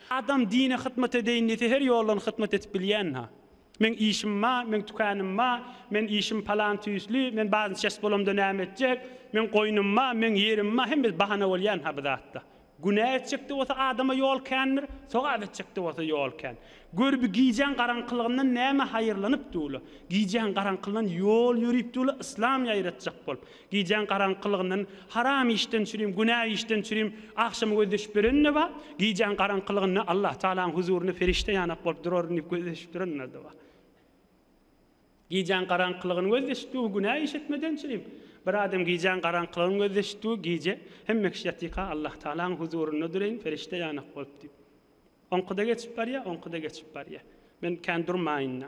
Adam dine hytmat edeýin diýse her ýoldan hytmat edip bilýänha. Meň işim ba, meň tükänim ba, men işim palan tüýsli, men bazen çes bolamda näme etjek, meň goýnum ba, meň ýerim ba hemmesi bahana bolýanha bu zatda. Günä etjekde bolsa adama ýol kändir, sogap etjekde bolsa ýol kän. Gör bi gijäň garaňkylygyndan näme haýyrlanyp duwla. Gijäň garaňkyldan ýol ýörüp duwla yslam ýaýratjak bolup. Gijäň garaňkylygyndan haram işden çürim, günä işden çürim agşam gözleşip ýörenine bar. Gijäň garaňkylygynda Allah Tagalaň huzurynda perişde ýanak bolup duraryn diýip gözleşip duranlar-da bar. Gijäň garaňkylygyny gözleşikdigi günä iş etmeden çürim. Bir adam gijäň garaňkylygyny gözleşikdigi gije hemme kişi ýatyka Allah Tagalaň huzurynda duryn perişde ýanak bolup diýip. Oňky-da geçip barýa, oňky-da geçip barýa. Men kän durmaýyn-da.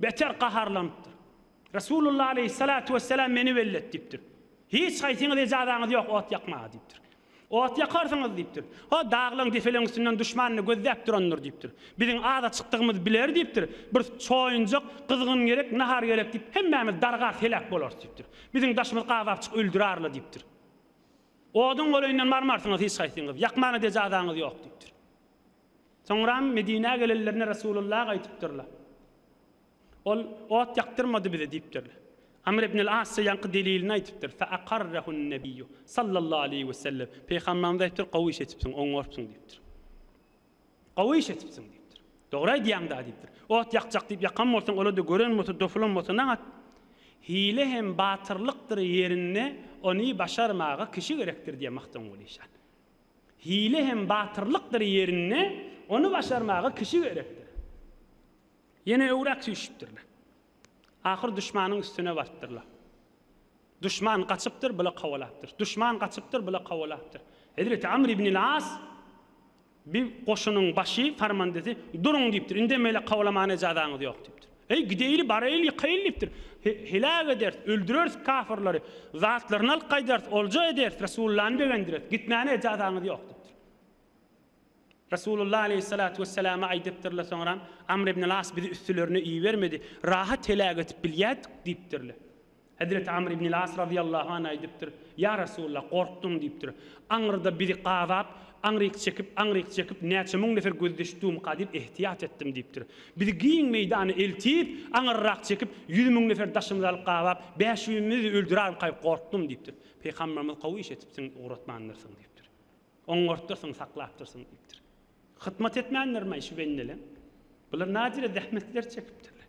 Beter gaharlanypdyr. Resulullah aleýhissalatu wessalam meni wellet diýipdir. Hiç haýsyňyz ejazaňyz ýok ot ýakmaga diýipdir. Ot ýakarsyňyz diýipdir. O daglaň depeleň üstünden duşmanyny gözläp durandyr diýipdir. Biziň aza çykdygymyz biler diýipdir. Bir çoýunjak gyzgyn gerek, nahar gerek diýip hemmämiz dargap heläk bolarys diýipdir. Biziň daşymyz gabapjyk öldür arla diýipdir. Oduň goleýinden barmarsyňyz hiç haýsyňyz. Ýakmana-da ejazaňyz ýok diýipdir. Soňram Medinä gelenlerinde Resulullah aýdypdyrlar. Ol, Ot ýakdyrmady bize diýipdirler. Amr ibnül As şo ýanky delilini aýdypdyr, Fe akarrehun Nebiýu, sallallahu aleýhi we sellem, Peýhamberimiz aýdypdyr, Gowy iş etipsiň, oňarpsyň diýipdir. Gowy iş etipsiň diýipdir. Dogry aýdýaň-da diýipdir. Ot ýakjak diýip ýakan bolsaň, ol-da gören bolsa, dopulan bolsa nagat? Hile hem batyrlykdyr ýerinde ony başarmaga kişi gerekdir diýýär Magtymguly şa. Hile hem batyrlykdyr ýerinde, ony başarmaga kişi gerekdir. Ýene öwrak süýşüpdirler. Ahyr duşmanyň üstüne barypdyrlar. Duşman gaçypdyr, bula kowalapdyr. Duşman gaçypdyr, bula kowalapdyr. Hezreti Amr ibnil As bir goşunyň başy, farmandesi, Duruň diýipdir, indemeli kowalamana ejazaňyz ýok diýipdir. Eý, gideýli, baraýly, ýykaýly diýipdir. Heläk ederis, öldüreris kafyrlary, zatlaryny alyp gaýdarys, olja ederis, Resulullany begendireris, gitmäne ejazaňyz ýok diýipdir. Resulullah aleýhissalatu wesselama aýdypdyrlar soňra, Amr ibn-al-As bizi üstülerine ibermedi, rahat heläk edip bilýärdik diýipdirler. Hezreti Amr ibnil As razyýallahu an aýdypdyr, Ýa Resulallah, gorkdum diýipdir. Aňyrda bizi gazap, aňryk çekip, aňryk çekip, näçe müň nefer gözdeş dumka diýip ehtiýat etdim diýipdir. Bizi giň meýdana eltip, aňyrrak çekip, ýüz müň nefer daşymyzy alyp gabap, bäşimizi öldürermikaý gorkdum diýipdir. Pygamberimiz Gowy iş etipsiň, ugratmandyrsyň diýipdir. Oňartdyrsyň, saklapdyrsyň diýipdir. Hytmat etmändirmaý şu bendeleň? Bular näcirä zähmetler çekipdirler.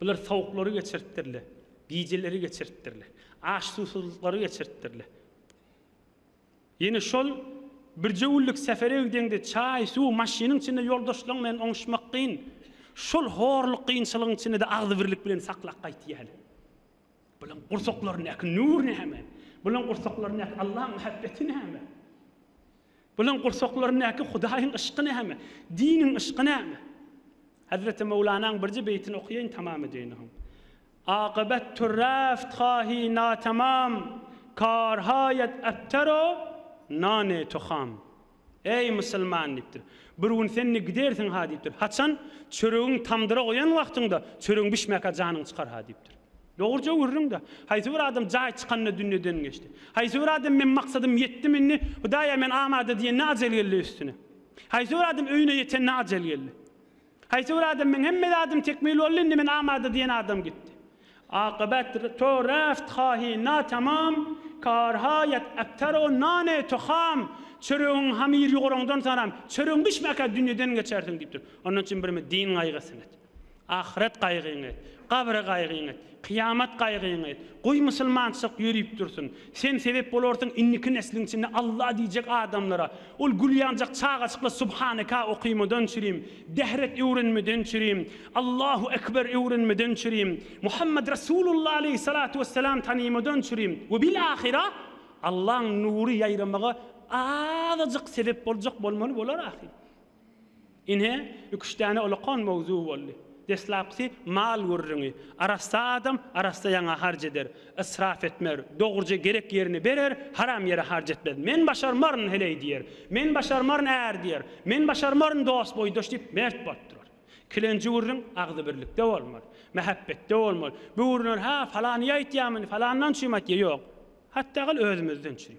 Bular sowuklary geçiripdirler, gijeleri geçiripdirler, aç-suwsuzlyklary geçiripdirler. Ýene şol birje günlük sefere gideňde çaý, suw, maşynyň içinde ýoldaşlaryň bilen oňuşmak kyn. Şol horluk, kynçylygyň içinde-de agzybirlik bilen saklap gaýtýarlar. Bularyň gursaklaryndaky nur näme? Bularyň gursaklaryndaky Allaň mähebbeti näme? Bularyň gursaklaryndaky Hudaýyň yşky näme? Diniň yşky näme? Hezreti Möwlanaň birje beýtini okaýaýyn tamam edeýin soň. Akybetdir reft hahi natamam, kar haýat ebter o nane toham. Eý, musulman! diýipdir. Bir gün sen-de gidersiň-ha diýipdir. Haçan? Çöregiň tamdyra goýan wagtyňda çöregiň bişmäkä janyň çykar-ha diýipdir. Dogruja gürrüň-dä. Haýsy bir adam jaý çykanda dünýeden geçdi. Haýsy bir adam men maksadym ýetdim indi, Hudaýa men amada diýende ajal geldi üstüne. Haýsy bir adam öýüne ýetende ajal geldi. Haýsy bir adam meň hemme zadym tekmil boldy indi men amada diýen adam gitdi. Akybat to reft hahi na tamam, kar ha yat abtar o nane to ham, çöregiň hamyr ýuguraňdan saram, çöregiň bişmäkä dünýeden geçersiň diýipdir. Ondan üçin birimi din gaýgysyny et. Ahyret gaýgyňy et, gabre gaýgyňy et, kyýamat gaýgyňy et, goý musulmançylyk ýörüp dursun. Sen sebep bolarsyň indiki nesliň içinde Allah diýjek adamlara. Ol gülýanjak çagajyklar subhaneka okymadan çürim, dehret öwrenmeden çürim, Allahu ekber öwrenmeden çürim, Muhammet Resulullah aleýhi salatu wesselam tanymadan çürim we bil ahyra Allaň nury ýaýramaga azajyk sebep boljak bolmaly bolar ahyr. Ine, iki-üç däne olakan mowzuk boldy. Deslapkysy mal gürrüňi. Arassa adam arassa ýaňa harç eder. Ysrap etmez. Dogruja gerek ýerine berer, haram ýere harç etmez. Men başarmaryn, heleý diýer. Men başarmaryn, är diýer. Men başarmaryn, dost-boýdaş diýip, mert bolup durar. Kilenji gürrüň agzybirlikde bolmaly. Mähäbbetde bolmaly. Bu gürrüňler hä, falany aýtýarmyny, falandan çüým aýtýar, ýok. Hatda gyl özümizden çüým.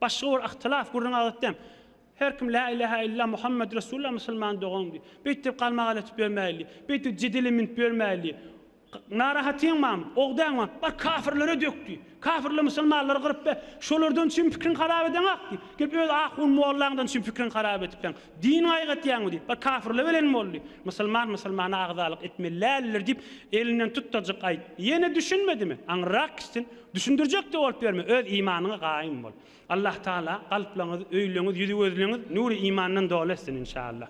Başga bir yhtylaf gürrüň adatdam. Her kim Lä ilähä illa Muhammet Resulullah musulman dogan diý. Beýtdip galmagal etip ýörmäýli. Beýtdip jedele münüp ýörmäýli. Narahatyňmam, ogdaňmam? Bar kafirlere dök diý. Kafirler musulmanlary gyryp be. Şolardan üçin pikriň harap edeňak diý. Gelip öz ahun mollaňdan üçin pikriň harap edipseň. Din gaýgatýaňmy diý. Bar kafirler bilen bol diý. Musulman musulmana agzalyk etmeli däldir diýip elinden tut dajyk aýt. Ýene düşünmedimi? Aňyrrak gitsin. Düşündirjek-de bolup ýörme. Öz imanyňa gaýym bol. Allah Taala kalplaryňyz, öýleriňiz, ýüzi gözleriňiz nury imandan doly etsin inşallah.